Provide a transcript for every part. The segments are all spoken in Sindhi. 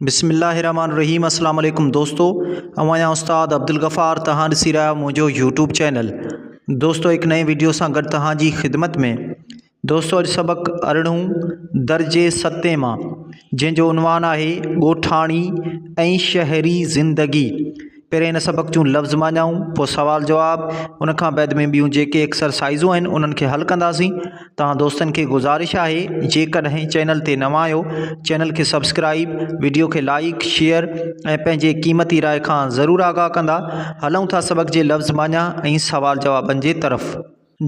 بسم الله الرحمٰن الرحيم السلام عليڪم دوستو اوهان يا استاد عبدالغفار توهان ڏسي رهيا آهيو منهنجو يوٽيوب چينل دوستو هڪ نئين ويڊيو سان گڏ توهان جي خدمت ۾ دوستو اڄ سبق ارڙهون درجي ستين مان جنهن جو عنوان آهي ڳوٺاڻي ۽ شهري زندگي پهرين هن سبق جون لفظ معنائون، پوء سوال جواب، ان کان بعد ۾ ٻيون جيڪي ايڪسرسائيزون آهن انهن کي حل ڪنداسين. توهان دوستن کي گذارش آهي جيڪڏهن چينل تي نوان آهيو چينل کي سبسڪرائيب، وڊيو کي لائيڪ، شيئر ۽ پنهنجي قيمتي راء کان ضرور آگاهه ڪندا. هلون ٿا سبق جي لفظ معنيٰ ۽ سوال جوابن جي طرف.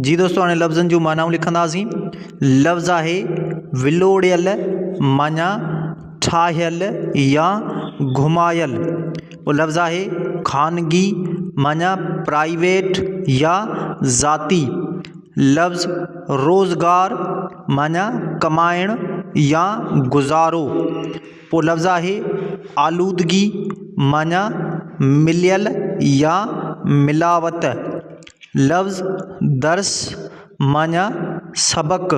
جي دوستو هاڻي لفظن جون معنائون لکنداسين لفظ آهي ولوڙيل معنيٰ ٺاهيل يا گهمايل ٻيو لفظ آهي خانگي معنيٰ پرائيويٽ يا ذاتي لفظ روزگار معنيٰ ڪمائڻ يا گذارو پوء لفظ آهي آلودگي معنيٰ مليل يا ملاوت، لفظ درس معنيٰ سبق،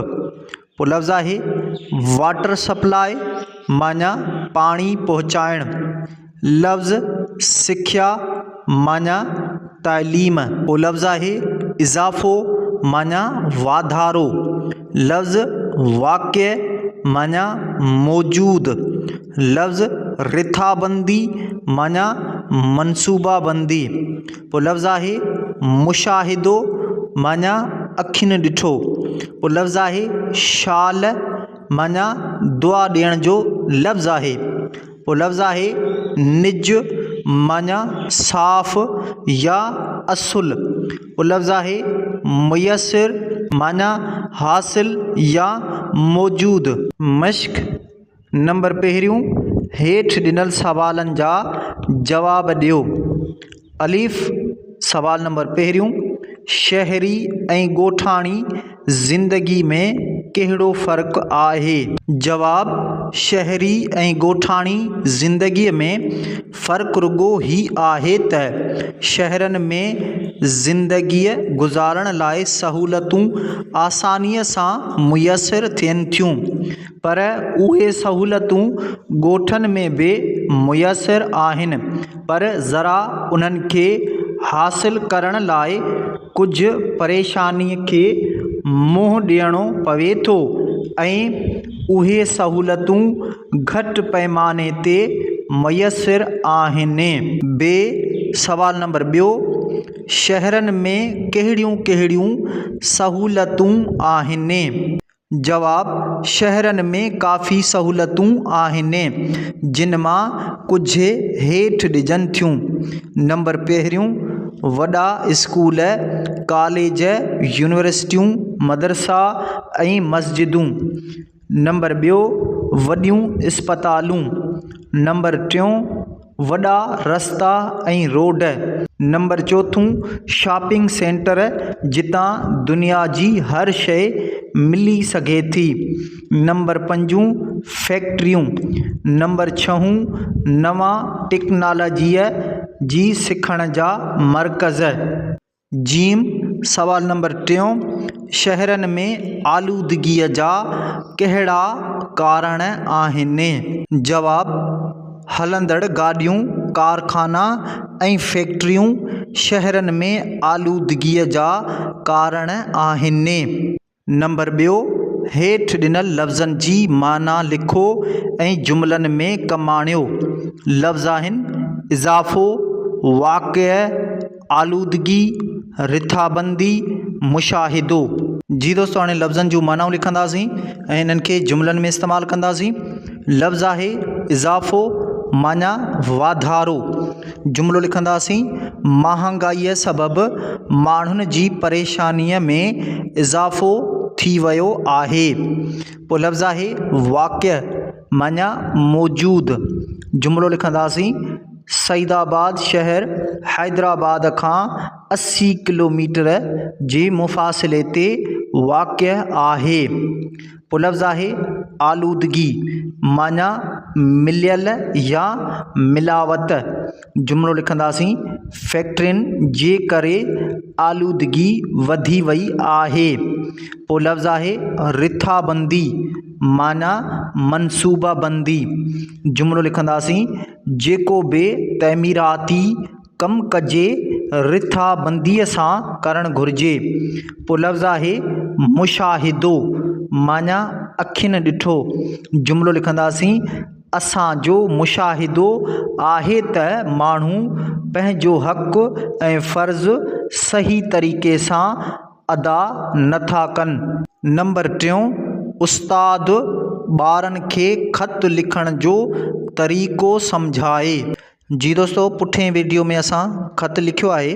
پوء لفظ آهي واٽر سپلاء معنيٰ پاڻي پهچائڻ، لفظ سکيا معنيٰ تعليم، پوء لفظ آهي اضافو معنيٰ واڌارو، لفظ واقع معنيٰ موجود، لفظ رٿابندي معنيٰ منصوبه بندي، پوء لفظ آهي مشاهدو معنيٰ اکين ڏٺو، پوء لفظ آهي شال معنيٰ دعا ڏيڻ جو لفظ آهي. اهو لفظ آهي نج معنيٰ صاف يا اصل. اهو لفظ آهي ميسر معنيٰ حاصل يا موجود. مشق نمبر پهريون، هيٺ ڏنل سوالن جا جواب ڏيو. الف، سوال نمبر پهريون، شهري ۽ ڳوٺاڻي زندگي ۾ ڪهڙو فرق آهي؟ جواب، شهري ۽ ڳوٺاڻي زندگي ۾ فرق رڳو هي آهي ته شهرن ۾ زندگي گذارڻ لاء سهولتون آساني سان ميسر ٿين ٿيون پر اهي سهولتون ڳوٺن ۾ به ميسر آهن پر ذرا انهن کي حاصل ڪرڻ لاء ڪجهه پريشاني کي منهن ڏيڻو پوي ٿو ۽ اهي سهولتون گهٽ پئماني تي ميسر آهن ب سوال نمبر ٻيو شهرن ۾ ڪهڙيون ڪهڙيون سهولتون آهن؟ جواب، شهرن ۾ ڪافي سهولتون آهن، جن مان ڪجهه هيٺ ڏجن ٿيون، نمبر پهريون، وڏا اسڪول، ڪاليج، يونيورسٽيون، مدرسا ۽ مسجدون، نمبر ٻيو، وڏيون اسپتالون، نمبر ٽيون، وڏا رستا ۽ روڊ، نمبر چوٿون شاپنگ سينٽر جتان دنيا جي هر شيء ملي سگهي ٿي، نمبر پنجون فيڪٽريون، نمبر ڇهون نوان ٽيڪنالاجيء جي سکڻ جا مرڪز. ج سوال نمبر ٽيون، شهرن ۾ آلودگيء جا ڪهڙا ڪارڻ آهن؟ جواب، هلندڙ گاڏيون، ڪارخانا ۽ فيڪٽريون شهرن ۾ آلودگيء جا ڪارڻ آهن. نمبر ٻيو، هيٺ ڏنل لفظن جي معنيٰ لکو ۽ جملن ۾ ڪم آڻيو. لفظ آهن، اضافو، واقع، آلودگي، رٿابندي، مشاهدو. جي دوستو هاڻي لفظن جون معنائون لکنداسين ۽ انهن کي جملن ۾ استعمال ڪنداسين. لفظ آهي، اضافو، معنيٰ، واڌارو. جملو لکنداسين، مهانگائيء سبب ماڻهن جي پريشانيء ۾ اضافو ٿي ويو آهي. پوء لفظ آهي، واقع معنيٰ موجود. جملو لکنداسين، سعيدآباد شهر حيدرآباد کان اسي ڪلوميٽر جي مفاصلي تي واقع آهي. پلفظاهي آلودگي، معنيٰ مليل يا ملاوت، جملو لکنداسين، فيڪٽرين جي ڪري آلودگي وڌي وئي آهي. پلفظاهي رٿابندي، معنيٰ منصوبابندي، جملو لکنداسين، جيڪو به تعميراتي ڪم ڪجي رٿابنديء سان ڪرڻ گهرجي. پوء لفظ آهي مشاهدو معنيٰ اکين ڏٺو. جملو لکنداسين، اسان جو مشاهدو آهي ته ماڻهو پنهنجو حق ۽ فرض صحيح طريقي سان ادا نٿا ڪن. نمبر ٽيون، استاد ٻارن کي خط لکڻ جو طريقو سمجهائي. جي دوستو پٺئين ويڊيو ۾ اسان خط لکيو آهي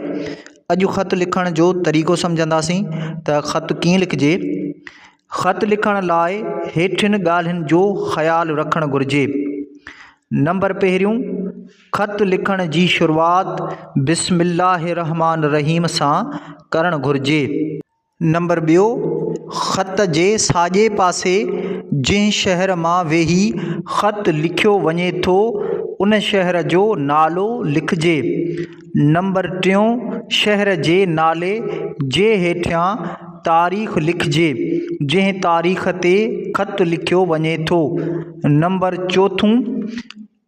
اڄ خط لکڻ جو طريقو سمجهنداسين ته خط ڪيئن لکجي خط لکڻ لاء هيٺين ڳالهين جو خيال رکڻ گهرجي نمبر پهريون خط لکڻ جي شروعات بسم الله الرحمن الرحيم سان ڪرڻ گهرجي نمبر ٻيو، خط جي ساڄي پاسي جنهن شهر مان ويهي خط لکيو وڃي ٿو، ان شهر جو نالو لکجي. نمبر ٽيون، شهر جي نالي جي هيٺيان تاريخ لکجي، جنهن تاريخ تي خط لکيو وڃي ٿو. نمبر چوٿون.